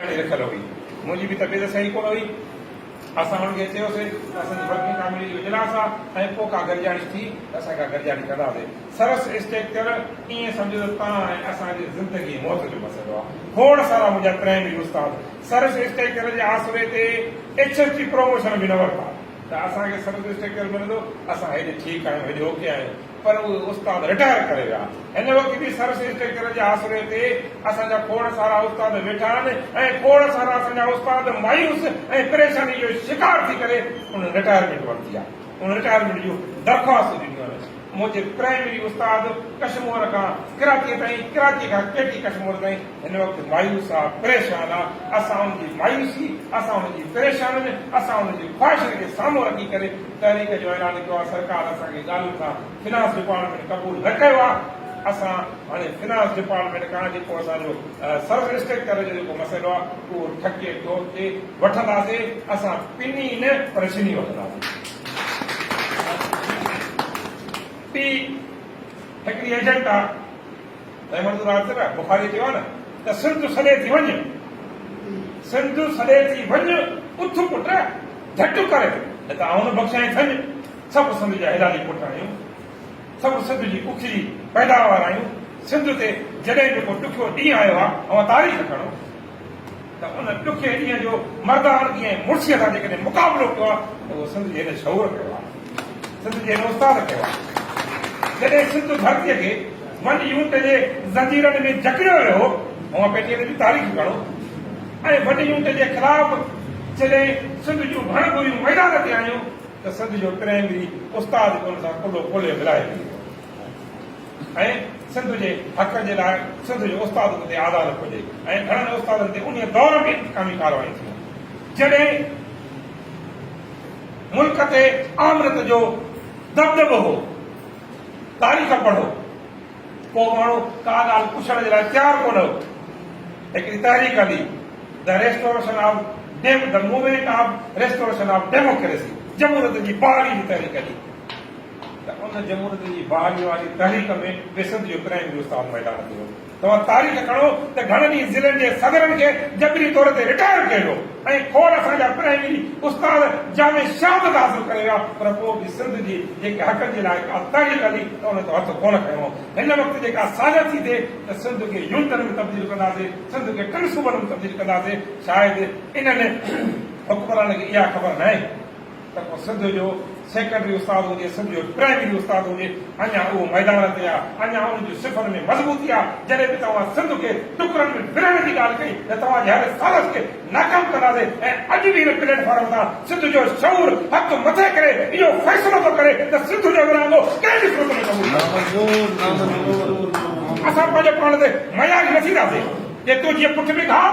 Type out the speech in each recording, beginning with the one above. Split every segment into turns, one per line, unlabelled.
ڪري رکيل هئي. منهنجي به طبيعت صحيح ڪونه هئي. اسان هن کي چيوسين ته اسان جي ورڪنگ ڪاميٽي جو اجلاس آ ۽ پوء ڪا گڏجاڻي ٿي ته اسان ڪا گڏجاڻي ڪنداسين. سرس اسٽيڪچر ائين سمجهو ته توهان ۽ اسان جي زندگي ۽ موت جو مسئلو آ. کوڙ سارا منهنجا پرائمري استاد سرس اسٽيڪچر جي آسري تي ايڇ ايس جي پروموشن به نه ورتا ته اسان کي سرس اسٽيڪچر ملندو. اسان هيڏي ٺيڪ آهيون، هيڏي اوڪي آهيون. پر اهي استاد رٽائر ڪري ويا. هن وقت به سرس اسٽرڪچر جي آسري تي اسان جا کوڙ سارا استاد ويٺا آهن ۽ کوڙ سارا اسان جا استاد مايوس ۽ پريشاني جو شڪار ٿي ڪري انهن رٽائرمينٽ ورتي آهي. انهن رٽائرمينٽ جون درخواستون ڏنيون آهن. منهنجي پرائمري استاد ڪشمور کان ڪراچيء تائين، ڪراچيء کان ڪي ٽي ڪشمور تائين هن وقت مايوس آ، پريشان آ. اسان ان جي مايوسي، اسان ان جي پريشانين، اسان ان جي خواهشن کي سامهون رکي ڪري تحريڪ جو اعلان ڪيو آهي سرڪار اسان کي ڳالهين سان فنانس ڊپارٽمينٽ قبول نه ڪيو آهي اسان هاڻي فنانس ڊپارٽمينٽ کان جيڪو اسان جو سرف اسٽرڪچر جو جيڪو مسئلو آهي اهو ٺڪي ٺوڪ تي وٺنداسين اسان پني نه پر شني وٺنداسين ٽي هڪڙي ايجنٽا احمد راڄ نه بخاري چيو آهي نه ته سنڌ سڏي ٿي وڃ، سنڌ سڏي ٿي وڃ، اٿ پٽ جهٽ ڪر، نه ته آئون نه بخشيائين ٿڃ، سڀ سنڌ جا حلالي پٽ آهيون، سڀ سنڌ جي پکڙي پيداوار آهيون، سنڌ تي جڏهن به ڪو ڏکيو ڏينهن آيو آهي، اوهان تاريخ کڻو. ته ان ڏکي ڏينهن جو مرداڻگيء ۽ مڙسيء سان جيڪڏهن مقابلو ڪيو آهي ته اهو سنڌ جي هن شعور ڪيو آهي، سنڌ جي هن استاد ڪيو آهي. جڏهن سنڌ ڌرتيء کي ون يونٽ جي زنجيرن ۾ جڪڙيو ويو هو، اوهان پيٽيء تي به تاريخ پڙهو ۽ ون يونٽ جي خلاف جڏهن سنڌ جون ڀڻ ڀوريون ميدان تي آيون ته سنڌ جو پرائمري استاد به ان سان ڪلهو کولي ملائي ويو هو. ۽ سنڌ جي حق جي لاء سنڌ جو استاد به اتي آزاد رکيو وڃي ۽ گهڻن استادن تي انهيء دور ۾ انتقامي ڪارروايون ٿيون جڏهن ملڪ تي آمريت جو دٻدٻو هو تاريخ پڙهو ڪو ماڻهو ڪا ڳالهه پڇڻ جي لاء تيار ڪونه هو هڪڙي تحريڪ هلي د ريسٽوريشن آف ڊيم the movement of restoration of democracy جمهوريت جي بحالي جي تحريڪ هلي ته ان جمهوريت جي بحاليء واري تحريڪ ۾ به سنڌ جو ڪرائم جو استاد ميدان تي هو. توهان تاريخ کڻو ته گهڻن ئي ضلعن جي صدرن کي جبري طور تي رٽائر ڪيو ويو ۽ کوڙ اسان جا پرائمري استاد جامع شهادت حاصل ڪري ويا پر پوء به سنڌ جي جيڪي حقن جي لاء ڪا تحريڪ هلي ته ان جو هٿ ڪونه کنيو. هن وقت جيڪا سازش ٿي ٿئي ته سنڌ کي يونٽن ۾ تبديل ڪنداسين، سنڌ کي ٽن صوبن ۾ تبديل ڪنداسين، شايد انهن حڪمرانن کي اها خبر ناهي. ته ڪو سنڌ جو سيڪنڊري استاد هجي، سنڌ جو پرائمري استاد هجي، اڃا اهو ميدان تي آ، اڃا ان جي صفن ۾ مضبوطي آ، جڏهن به توهان سنڌ کي ٽڪرن ۾ ورهائڻ جي ڳالهه ڪئي ته توهان جي هر سازش کي ناڪام ڪنداسين ۽ اڄ به هن پليٽ فارم تان سنڌ جو شعور هٿ مٿي ڪري اهو فيصلو ٿو ڪري ته سنڌ جو ورهاڱو ڪنهن به صورت ۾ قبول نه ڪنداسين. اسان پنهنجو پاڻ تي مياج نه ٿينداسين، جي تون جيئن پٺ ۾ گهاء.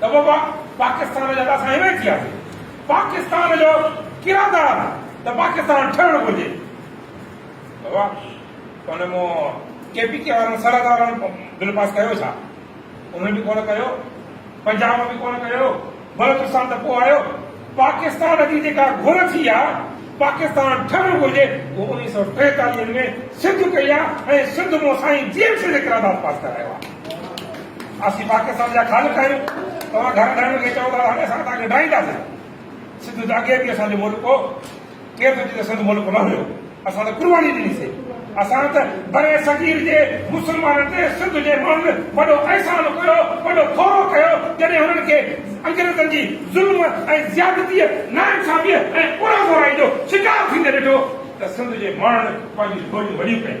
ته بابا پاڪستان جا ته اسان هينئر ئي ٿياسين، پاڪستان جو ڪردار ته پاڪستان ٺهڻ گهرجي. بابا توهان مون ڪي پي ڪي وارن سرحد وارن بل پاس ڪيو ڇا؟ انهن به ڪونه ڪيو، پنجاب به ڪونه ڪيو، بلوچستان ته پوء آيو. پاڪستان جي جيڪا گهر ٿي يا پاڪستان ٺهڻ گهرجي اهو اڻيهه سؤ ٽيتاليهه ۾ سنڌ ڪئي آ ۽ سنڌ مون سائين جي ايم سيد قرارداد پاس ڪرايو آ اسين پاڪستان جا خالق آهيون توهان گهر ڊاهڻ کي چئو ٿا ته هاڻي اسان توهان کي ڊاهينداسين سنڌ ته اڳي به اسان جو ملڪ هو ڪير ٿو چئي ته سنڌ ملڪ نه هيو؟ اسان ته قرباني ڏني سي. اسان ته برصغير جي مسلمانن تي سنڌ جي ماڻهن وڏو احسان ڪيو، وڏو ٿورو ڪيو، جڏهن هنن کي انگريزن جي ظلم ۽ زيادتيء، ناانصافيء ۽ اورانگورائي جو شڪار ٿيندي ڏٺو ته سنڌ جي ماڻهن پنهنجيون ٿوريون وڏيون ڪيون.